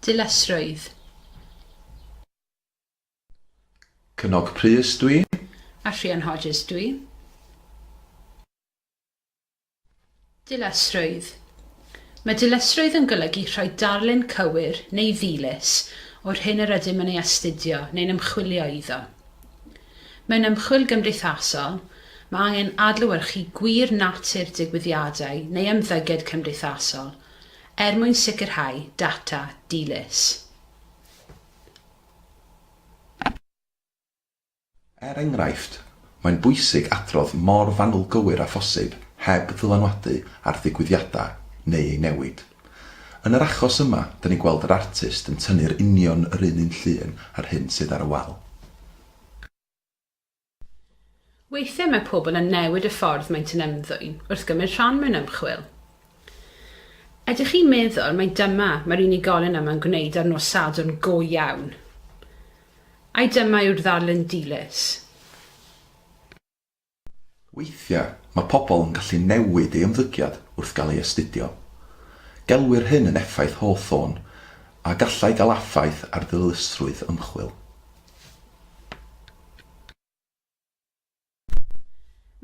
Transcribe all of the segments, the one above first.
Dilysrwydd. Cynog Prys dw i. A Rhian Hodges dw i. Dilysrwydd. Mae dilysrwydd yn golygu rhoi darlun cywir, neu ddilys, o'r hyn yr ydym yn ei astudio neu'n ymchwilio iddo. Mewn ymchwil gymdeithasol, mae angen adlewyrchu gwir natur digwyddiadau neu ymddygiad cymdeithasol, er mwyn sicrhau data dilys. Er enghraifft, mae'n bwysig adrodd mor fanwl gywir â phosib heb ddylanwadu ar ddigwyddiadau neu eu newid. Yn yr achos yma, da ni'n gweld yr artist yn tynnu'r union yr un un llun â'r hyn sydd ar y wal. Weithiau mae pobl yn newid y ffordd maent yn ymddwyn wrth gymryd rhan mewn ymchwil. Ydych chi'n meddwl mai dyma mae'r unigolyn yma'n gwneud ar nos Sadwrn go iawn? Ai dyma yw'r ddarlun dilys? Weithiau mae pobl yn gallu newid ei ymddygiad wrth gael ei astudio. Gelwir hyn yn effaith Hawthorne a gallai gael affaith ar ddilysusrwydd ymchwil.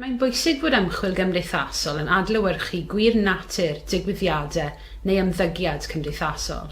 Mae'n bwysig bod ymchwil gymdeithasol yn adlewyrchu gwir natur digwyddiadau neu ymddygiad cymdeithasol.